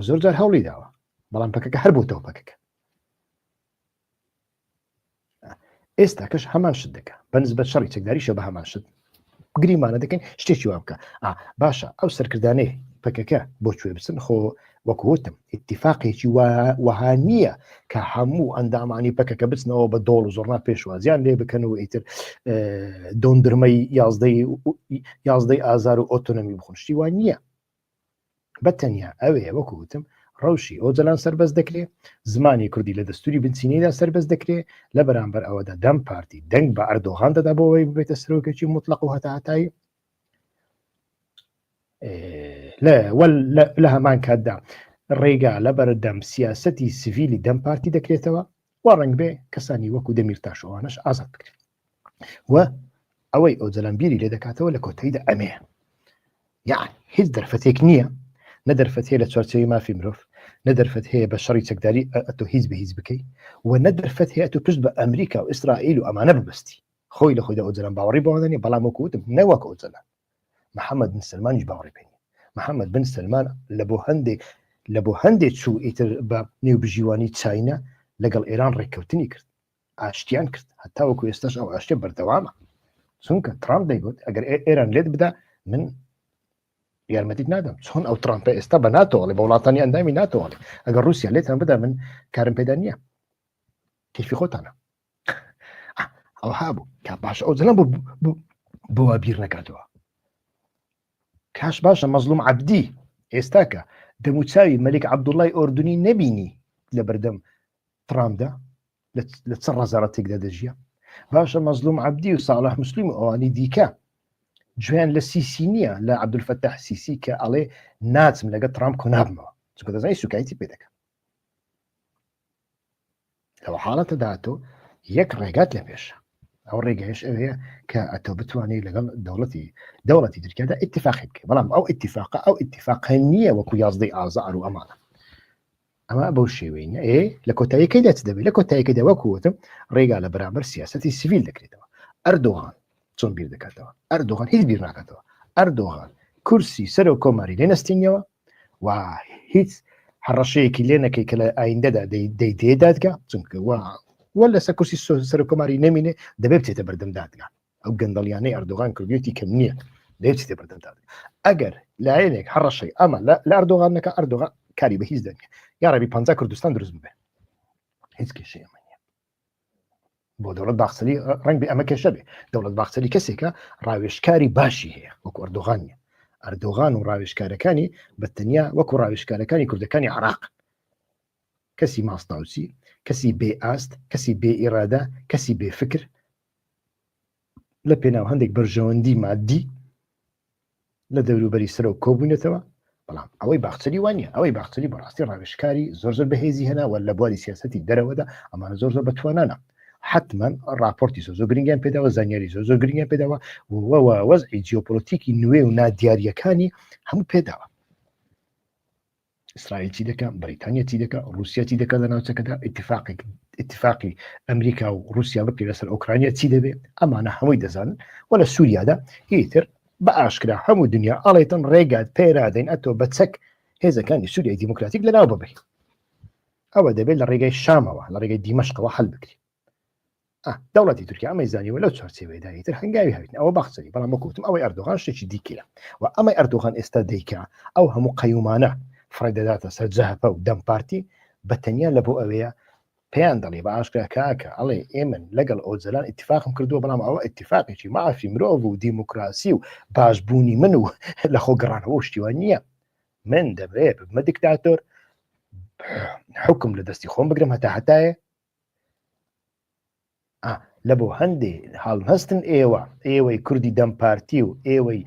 زۆر جار هەوڵی داوە بەڵام پەکەکە هەر بووتەوە پەکەکە ئێستا کەش هەمان شت دەکە بەنسبەت شەڕی چەکداریشە بە هەمان شت گریمانە دەکەین شتێکی وا بکە باشە ئەو سەرکردانەی پەکەکە بۆ کوێ بچن خۆ وەکوتم اتفاقێکی وەها نییە کە هەموو ئەندامانی پەکەکە بچنەوە بە دۆڵ و زۆرنا پێشوازیان لێ بکەن و ئیتر دۆندرمەی یازدەی یازدەی ئازار و ئۆتۆنەمی بخونشتی وان نییە بە تەنیا ئەوێ وەکو وتم ڕەوشی ئۆجەلان سەربەست دەکرێ زمانی کوردی لە دەستوری بنچینەیدا سەربەست دەکرێ لە بەرامبەر ئەوەدا دەم پارتی دەنگ بە ئەردۆغان دەدا بۆەوەی ببێتە سرۆکێکی مطلق و هەتاهتایی لە هەمان کاتدا ڕێگا لە بەردەم سیاستی سڤیلی دەم پارتی دەکرێتەوە و ڕنگ بێ کەسانی وەکو دەمیر تاشەوانش ئازاد بکرێت و ئەوەی ئەو جەلان بیری لێ دەکاتەوە لە کۆتەیدا ئەمێ یان هیچ دەرفەتێک نییە نە دەرفەت هەیە لە چوارچەوی مافی مرۆڤ نە دەرفەت هەیە بە شەڕی چەکداری ئەتۆ هیچ بە هیچ بکەیت و نە دەرفەت هەیە تو پشت بە ئەمریکا و ئیسرائیل و ئەمانە ببستی خۆی لە خۆیدا ئۆجلان باوەڕی بەوانانی بەڵام وەکوتم نەوەک ئۆجلان محەممەد بن سلمانیش باوەڕی پێ محەممەد بن سلمان لە بۆ هەندێک لە بۆ هەندێک چوو ئیتر بە نێو بژیوانی چینە لەگەڵ ئێران ڕێککەوتنی کرد ئاشتیان کرد هەتا وەکو ئێستاش ئەو ئاشتە بەردەوامە چونکە ترامپ دەیگوت ئەگەر ئێران لێت بدا من یارمەتیت نادەم چۆن ئەو ترامپە ئێستا بە ناتۆڵێ بە وڵاتانی ئەندامی ناتۆڵێ ئەگەر رووسیا لێتان بدا من کارم پێدا نییە کەفی خۆتانە ئەوها بوو کا باش ئەو زەلم بوو بۆە بیر نەکردەوە کاش باشە مەزلوم عبدی ئێستاکە دەموچاوی مەلیک عبدوڵای ئۆردنی نەبینی لە بەردەم ترامدا لە چ ڕزارەتێکدا دەژیە باشە مەزلوم عبدی و ساڵح مسلیم و ئەوانی دیکە جوێن لە سیسی نییە لە عبدولفەتە حسیسی کە ئەڵێ ناچم لەگە ترامپ کۆنابمەوە چکە دەزای سوکایتی پێ دەکەم لەوە حاڵەتە داهاتۆ یەک ڕێگات لە پێشە ئەو ڕێگەش ئەوەیە کە ئەتۆ بتوانێت لەگەڵ دەوڵەتی دەوڵەتی ترکیادا اتفاقی بکە بەڵام ئەو اتفاقە ئەو اتفاقە نییە وەکو یازدەی ئازار و ئەمانە ئەمە بەو شێوەینە ئێ لە کۆتاییەکەی دەچ دەبێت لە کۆتاییەکە دەوەکوتم ڕێگا لە بەرامبەر سیاستی سیویل دەکرێتەوە ئەردۆغان چۆن بیر دەکاتەوە ئەردۆغان هیچ بیر ناکاتەوە ئەردۆغان کورسی سەر و کۆماری لێ نستینەوە و هیچ هەڕەشەیەکی لێ نەکەی کە لە ئایندەدا دەی دێ دادگا چونکە وە لەسەر کورسی سەر و کۆماری نمینێ دەبێت بچێتە بەردەم دادگا ئەو گەندەڵیانەی ئەردۆغان کردوێتی کەم نییە لە هیچ تێ بەردەندا ئەگەر لایەنێک هەڕەشەی ئەمە لە ئەردۆغان نەکە ئەردۆغا کاری بە هیچ دەنگێ یا ڕێبی پ کوردستان دروست بێ هیچ کێشەیە من بۆ دەوڵەت باخسەری ڕنگ بێ ئەمە کێشە بێ دەوڵەت باخسەری کەسێکە ڕاوێشکاری باشی هەیە وەکو ئەردۆغان نیە ئەردۆغان و ڕاوێشکارەکانی بە تەنیا وەکو ڕاوێشکارەکانی کوردەکانی عراق کەسی ماستاوسی کەسی بێ ئاست کەسی بێ ئیرادە کەسی بێ فکر لە پێناو هەندێک بەرژەوەندی مادی لە دەوروبەری سەرۆک کۆبوونەتەوە بەڵام ئەوەی باخچەری وانە ئەوەی باخچەری بەڕاستی ڕاوێشکاری زۆر زۆر بەهێزی هێناوە لە بواری سیاستی دەرەوەدا ئەمانە زۆر زۆر بەتوانانە حتمما راپۆرتی زۆ زۆ گرنگیان پێداوە زانیاری زۆ زۆ گرنگیان پێداوە وەوە وەزعی جیۆپۆلۆتیکی نوێ و نادیارەکانی هەموو پێداوە ئیسرائیل چی دەکە بریتانیا چی دەکە رووسیا چی دەکە لە ناوچەکەدا اتفاقێک اتفاقی ئەمریکا و رووسیا بکە لەسەر ئۆکرانیا چی دەبێت ئەمانە هەمووی دەزانن و لە سووریادا هیتر بە ئاشکرا هەموو دنیا ئاڵێتن ڕێگات پێرادەین ئەتۆ بە چەک هێزەکانی سووریای دیموکراتیک لەناو ببین ئەوە دەبێت لە ڕێگەی شامەوە لە ڕێگەی دیمەشقەوە هەل بکرێت دەوڵەتی تورکیا ئەمەی زانیوە لەو چارچێوەیەدا ئیتر هەنگاوی هاوین ئەوە باخچەری بەڵام وەکوتم ئەوەی ئەردۆغان شتێکی دیکەیە و ئەمەی ئەردۆغان ئێستا دیکە ئەو هەموو قەیومانە فڕێدەداتە سەر جەهەپە و دەم پارتی بە تەنیا لە بۆ ئەوەیە پێیان دەڵێ بە ئاشکرا کاکە ئەڵێ ئێمن لەگەڵ ئۆجلان اتفاقم کردووە بەڵام ئەوە اتفاقێکی مافی مرۆڤ و دیموکراسی و باشبوونی من و لە خۆ گەڕانەوە شتیوان نییە من دەبێت بمە دیکتاتۆر حکم لە دەستی خۆم بگرم هەتا هەتایە لە بۆ هەندێ هەڵهستن ئێوە ئێوەی کوردی دەم پارتی و ئێوەی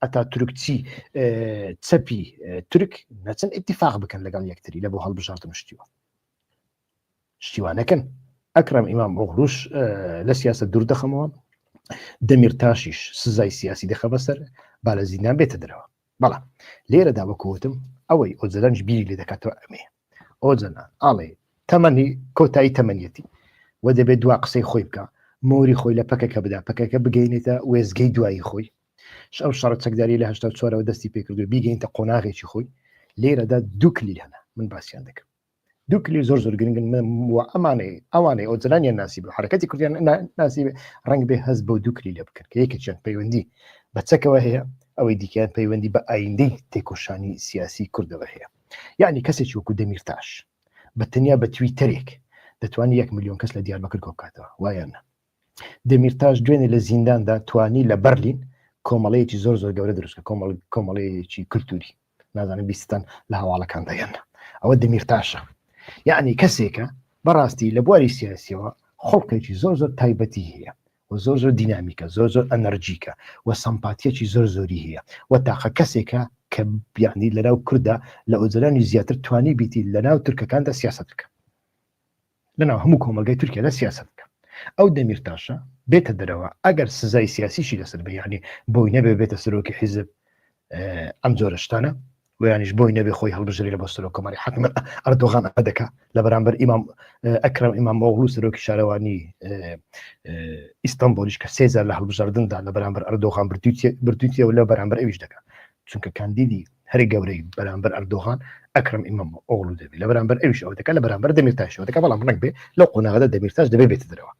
ئەتا تورکچی چەپی تورک نەچن اتفاق بکەن لەگەڵ یەکتری لە بۆ هەڵبژاردن شتیوە شتیوانەکەن ئەکرم ئیمام ئۆغروش لە سیاسە دوور دەخەمەوە دەمیر تاشیش سزای سیاسی دەخە بەسەر با لە زیندان بێتە درەوە بەڵام لێرەدا وەکوتم ئەوەی ئۆجلەنج بیری لێ دەکاتەوە ئەمەیە ئۆجەلان ئاڵێ تەمەنی کۆتایی تەمەنیەتی و دەبێت دوا قسەی خۆی بکە مۆری خۆی لە پەکەکە بدا پەکەکە بگەینێتە وێزگەی دوایی خۆی ئەو شەڕە چەکداری لە هشتا چۆرەوە دەستی پێکردو بیگەینتە قۆناغێکی خۆی لێرەدا دوکلی هەنا من باسییان دەکەم دوکلی زۆر زۆر گرنگن ئەمانەی ئەوانەی ئەو جلانیان ناسی بە حرکەتی کوردیان ناسی ڕنگ بێ هەز بۆ دوکلی لە بکرد کە یەکێکیان پەیوەندی بە چەکەوە هەیە ئەوەی دیکەیان پەیوەندی بە ئایندەی تێکۆشانی سیاسی کوردەوە هەیە یەعنی کەسێکی وەکو دەمیرتاش بە تەنیا بە تویتەرێک دەتوانێت یەک ملیۆن کەس لە دیاربەکر کۆ بکاتەوە وایان نا دەمیرتاش دوێنێ لە زینداندا توانی لە بەرلین کۆمەڵەیەکی زۆر زۆر گەورە دروستکە کۆمەڵ کۆمەڵەیەکی کللتوری نازانم بیستان لە هەواڵەکان دەیان ئەوە دەمیرتاشە یعنی کەسێکە بەڕاستی لە بواری سیاسیەوە خڵقێکی زۆر زۆر تایبەتی هەیە و زۆر زۆر دینامیکە زۆر زۆر ئەنەرجیکە و سەمپاتیەکی زۆر زۆری هەیە و تاقە کەسێکە کە یعنی لەناو کوردە لە ئۆجەلانی زیاتر توانی بیتی لەناو تورکەکاندا سیاست بکە لەناو هەموو کۆمەلگای تورکیادا سیاست بکە ئەو دەمیرتاشە بێتە دەرەوە ئەگەر سزای سیاسیشی لەسەر بە یعنی بۆی نەبێ بێتە سەرۆکی حیزب ئەم جۆرە شتانە ویانیش بۆی نەبێ خۆی هەڵبژری لە بۆ سەرۆک کۆماری حکم ئەردۆغان ئەدەکە لە بەرامبەر ئیمام ئەکرم ئیمام ئۆغلو سەرۆکی شارەوانی ئیستانبولیش کە سێزار لە هەڵبژاردندا لە بەرامبەر ئەردۆغان بردوتیەوە لە بەرامبەر ئەویش دەکە چونکە کاندیدی هەری گەورەی بەرامبەر ئەردۆغان ئەکرم ئیمام ئۆغلو دەبێت لە بەرامبەر ئەویش ئەو دەکە لە بەرامبەر دەمیرتاشەوە دەکە بەڵام ڕنگ بێ لەو قۆناغدا دەمیرتاش دەبێت بێت درەوە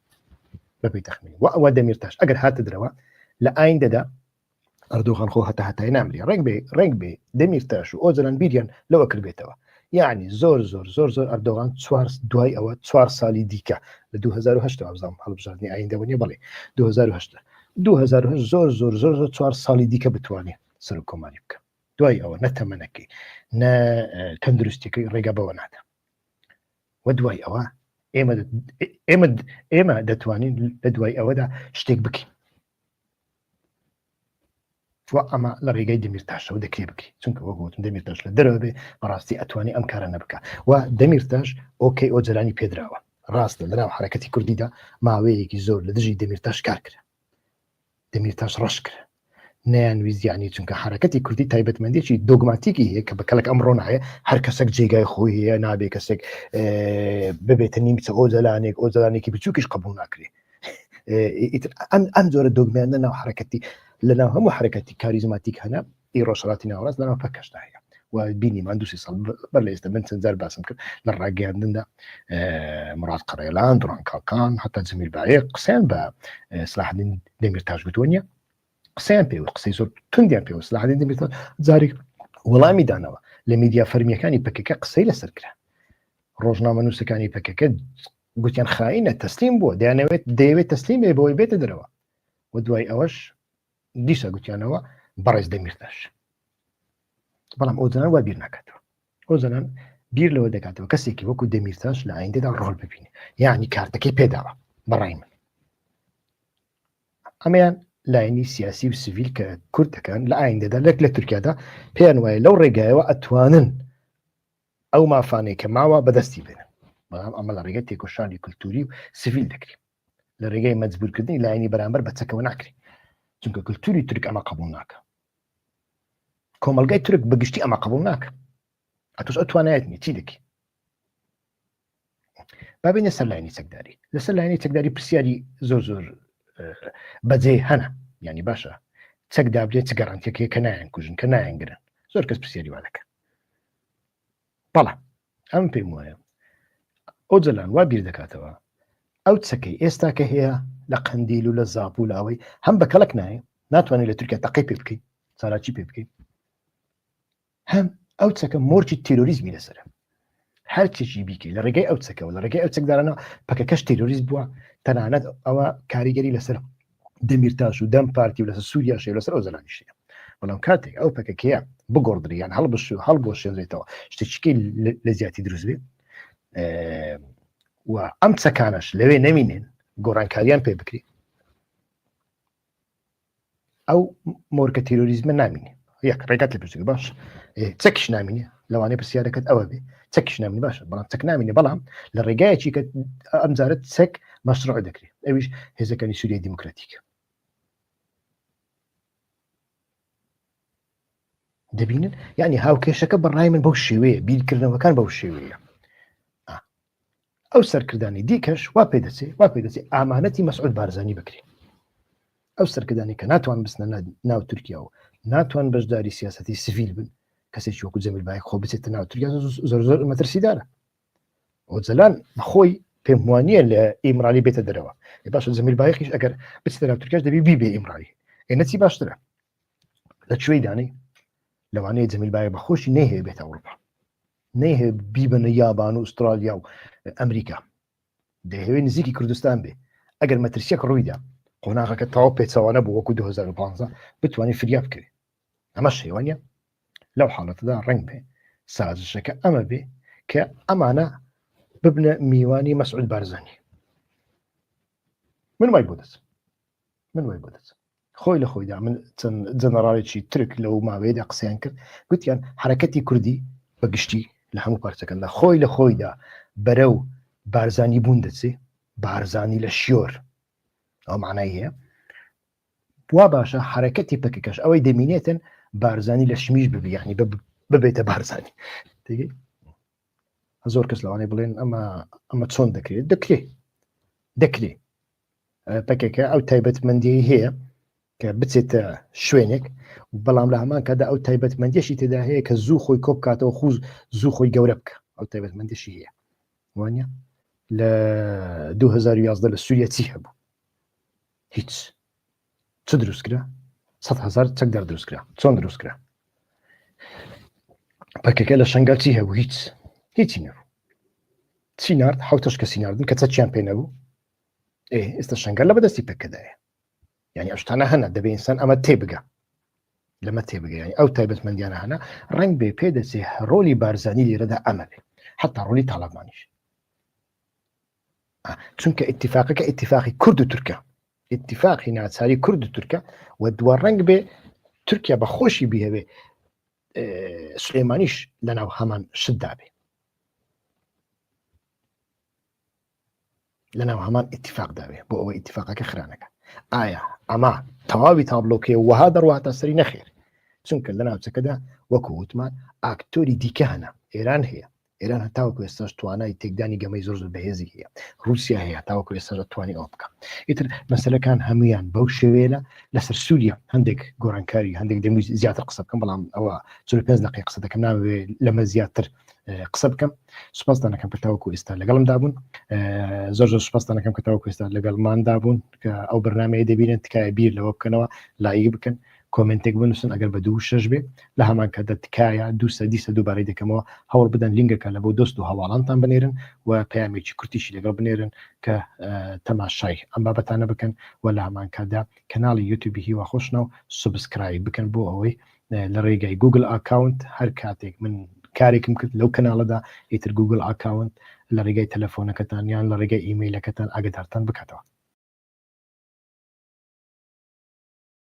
بەپی تەخمین و ئەوە دەمیرتاش ئەگەر هاتە درەوە لە ئایندەدا ئەردوغان خۆ هەتا هەتای نامری ڕنگ بێ ڕنگ بێ دەمیر تاش و ئۆجلان بیریان لەوە کردبێتەوە یعنی زۆر زۆر زۆر زۆر ئەردۆغان چوار دوای ئەوە چوار سالی دیکە لە 2010 ئەزام هەڵبژاردننی ئایندەوە نیە بڵێ 2010 2010 زۆر زۆر زۆر زۆر چوار ساڵی دیکە بتوانێت سەر و کۆماری بکە دوای ئەوە نەتەمەەکەی نە تەندروستەکەی ڕێگە بەوە نادا و دوای ئەوە ئێمە ئێمە ئێمە دەتوانین لە دوای ئەوەدا شتێک بکەین تۆ ئەمە لە ڕێگەی دەمیرتاشەوە دەکرێ بکری چونکە وەک وتم دەمیرتاش لە دەرەوە بێ بەڕاستی ئەتوانی ئەم کارانە بکە و دەمیرتاش ئۆکەی ئۆجەرانی پێدراوە ڕاستە لەناو حرەکەتی کوردیدا ماوەیەکی زۆر لە دژی دەمیرتاش کار کرا دەمیرتاش ڕەش کرا نەیانویزیانی چونکە حرەکەتی کوردی تایبەتمەندێکی دۆگماتیکی هەیە کە بە کەلک ئەم ڕۆناایە هەر کەسێک جێگای خۆی هەیە نابێ کەسێک ببێتە نیمچە ئۆجلانێک ئۆجلانێکی بچووکیش قبول ناکرێت ئەم ئەم جۆرە دۆگمێنە ناو حرەکەتی لە ناو هەموو حرەکەتی کاریزماتیک هەنا ئی ڕۆژهڵاتی ناوڕاست لەناو پەکەشدا هەیە و بینیمان دوسی ساڵ بەر لە ئێستا من چەندجار باسم کرد لە ڕاگەیاندندا مراد قڕێلان دوڕان کاڵکان حتا جمیل باێ قسەیان بە سلاحدین دەمیر تاش گوتوە نیە قسەیان پێ قسەی زۆر تندیان پێ سلاحدین دەمیر جارێک وەڵامی دانەوە لە میدیا فەرمیەکانی پکەکە قسەی لەسەر کرا ڕۆژنامە نووسەکانی پکەکە گوتیان خاینە تەسلیم بووە دەیانەوێت دەیەوێت تەسلیم بێ بۆی بێتە دەرەوە و دوای ئەوەش دیسا گوتیانەوە بەڕێز دەمیرداش بەڵام ئەو زنان وا بیر ناکاتەوە ئەو زنان بیر لەوە دەکاتەوە کەسێکی وەکو دەمیرتاش لە ئایندەدا ڕۆل ببینێ یعنی کارتەکەی پێداوە بەڕای من ئەمەیان لاینی سیاسی و سڤیل کە کورد دەکەن لە ئایندەدا لەک لە تورکیادا پێیان وایە لەو ڕێگایەوە ئەتوانن ئەو مافانەی کە ماوە بەدەستی بێنن بەڵام ئەمە لە ڕێگەی تێکۆشانی کللتوری و سڤیل دەکرێت لە ڕێگەی مەجبورکردنی لایەنی بەرامبەر بە چەکەوە ناکرێت چونکە کللتوری تورک ئەمە قبول ناکە کۆمەلگای تورک بەگشتی ئەمە قبول ناکە ئەتوش ئەتوانایەت نیچی دەکەی بابینە سەر لاینی چەکداری لەسەر لاینی چەکداری پرسیاری زۆر زۆر بەجێ هەنا ینی باشە چەک دابلێ چ گەڕنتێکێ کە نایەن کوژن کە نایەنگرن زۆر کەس پرسیاری وا دەکە بەڵام ئەم پێم وایە ئەو جەلان وا بیر دەکاتەوە ئەو چەکەی ئێستا کە هەیە لە قندیل و لە زاپ و لاوەی هەم بە کەڵک نایە ناتوانێت لە تورکیا تەقی پێ بکەیت چالاکی پێ بکەیت هەم ئەو چەکە مۆرکی تیرۆریزمی لەسرە هەر چێکی بیکەی لە ڕێگەی ئەو چەکەەوە لە ڕێگەی ئەو چەکدارانە پەکەکەش تیرۆریست بووە تەنانەت ئەوە کاریگەری لەسەر دەمیرتاش و دەم پارتی و لەسەر سووریا شێ لەسەر ئەو زەلانیشەیە بەڵام کاتێک ئەو پەکەکەیە بگۆڕدریان هەڵبش و هەڵ بۆ شێنرێتەوە شتێکی لە زیاتی دروست بێت و ئەم چەکانش لەوێ نەمینێن گۆڕانکاریان پێ بکرێت ئەو مۆرکە تیرۆریزمە نامینێ یەک ڕێگات لە پرسین باش چەکیش نامینێ لەوانەی پرسیارەکەت ئەوە بێ چەکیش نامین باشە بەڵام چەک نامینێ بەڵام لە ڕێگایەکی کە ئەمجارەت چەک مەسرع دەکرێت ئەویش هێزەکانی سووریای دیموکراتیکە دەبینن یعنی هاوکێشەکە بەڕای من بەو شێوەیە بیرکردنەوەکان بەو شێوەیە ئەو سەرکردانی دیکەش وا پێ دەچێ وا پێ دەچێ ئامانەتی مەسعود بارزانانی بکرێن ئەو سەرکردانی کە ناتوان بستنە ناو تورکیا و ناتوان بەشداری سیاستی سڤیل بن کەسێکی وەکو جەمیل باەک خۆ بچێتە ناو تورکیا زۆر زۆر مەترسیدارە ئۆجلان خۆی پێم وانە لە ئیمرانی بێتە دەرەوە باش زەمیل باەکیش ئەگەر بچێتە ناو تورکیاش دەبی بی بێ ئیمرانی ئێنەچی باشترە لە کوێی دانەی لەوانەیە جەمیل باە بە خۆشی نەیهەیە بێتە ئەوروپا نەیهێ بیبنە یابان و ئوسترالیا و ئەمریکا دەهەوێ نزیکی کوردستان بێ ئەگەر مەترسیەک ڕوویدا قۆناغەکە تاو پێچوانە بۆ وەکو 2015 بتوانین فریا بکەێت ئەمە شێوانە لەو حاڵەتدا ڕنگ بێ سازشەکە ئەمە بێ کە ئەمانە ببنە میوانی مەسعود بارزانانی من وای بۆ دەچم من وای بۆ دەچم خۆی لە خۆیدا من چەند جەنەراڵێکی ترک لەو ماوەیەدا قسەیان کرد گوتیان حرەکەتی کوردی بە گشتی لە هەموو پارچەکەدا خۆی لە خۆیدا بەرە و بارزانی بوون دەچێ بارزانی لە شیۆر ئەو معنای هەیە وا باشە حرەکەتی پکەکەش ئەوەی دەمینێتن بارزانی لە شمیش ببیانی ببێتە بارزانی زۆر کەس لەوانەیە بڵێن ئەمە ئەمە چۆن دەکرێت دەکرێت دەکرێت پەکەکە ئەو تایبەتمەندیی هەیە کە بچێتە شوێنێک بەڵام لە هەمان کادا ئەو تایبەتمەندیشی تێدا هەیە کە زوو خۆی کۆ بکاتەوە خوز زوو خۆی گەورە بکە ئەو تایبەتمەندیشی هەیە وانە لە 2011 لە سووریە چی هەبوو هیچ چ دروستکرا 100هزار چەک دەر دروستکرا چۆن دروستکرا پەکەکە لە شنگال چی هەبوو هیچ هیچی نەبوو چی نرد حوتش کەسی نردن کە چەچیان پێ نەبوو ئێستا شنگەر لە بەدەستی پێکەدایە یعنی ئەشتانە هەنە دەبێ ئینسان ئەمە تێبگە لەمە تێبگەیان ئەو تایبەتمەندیانە هەنا ڕنگ بێ پێ دەچێ ڕۆلی بارزانانی لێرەدا ئەمە بێ حتا ڕۆلی تاڵەمانیش چونکە اتفاقەکە اتفاقی کورد و تورکە اتفاقی ناچاری کورد و تورکە و دووە ڕنگ بێ تورکیا بە خۆشی بیهوێ سلێمانیش لەناو هەمان شدابێ لەناو هەمان ئتیفاق داوێ بۆ ئەوە ئتیفاقەکە خرانەکە ئایا ئەمە تەواوی تابلۆکێ وەها دەڕوات تا سەری نەخێر چونکە لە ناوچەکەدا وەکو وتمان ئاکتۆری دیکە هەنا ئێران هەیە ئێران هەتاوەکو ئێستاش توانای تێکدانی گەمەی زۆر زۆر بەهێزی هەیە رووسیا هەیە تاوەکو ئێستا توانی ئەو بکە ئیتر مەسلەکان هەمویان بەو شێوێنە لەسەر سووریا هەندێک گۆرانکاری هەندێک دەمی زیاتر قسە بکەم بەڵام ئەوە چ پێ دقی قسە دەکەم ناوێ لەمە زیاتر قسە بکەم سوپاستانەکەم کە تاوەکو ئێستا لەگەڵم دابوون زۆر زۆر سوپاستانەکەم کە تاوەکو ئێستا لەگەڵمان دابوون کە ئەو بەرنمەیە دەبینن تکایە بیر لەوە بکەنەوە لایک بکەن کۆمنتێک بنووسن ئەگەر بە دوو شش بێ لە هەمان کە دەتکایە دو سەدی سە دووبارەی دەکەمەوە هەوڵ بدەن لینگەکە لە بۆ دۆست و هەواڵانتان بنێرن و پامێکی کورتیشی لەگەڵ بنێرن کە تەماشای ئەم بابەتانە بکەن و لە هەمان کادا کەناڵی یوتوبی هیوا خۆشنە و سوبسکرای بکەن بۆ ئەوەی لە ڕێگای گوگل ئاکاونت هەر کاتێک من کارێکم کرد لەو کەناڵەدا ئیتر گوگل ئاکاونت لە ڕێگای تەلەفۆنەکەتان یان لە ڕێگای ئیمەیلەکەتان ئاگدارتان بکاتەوە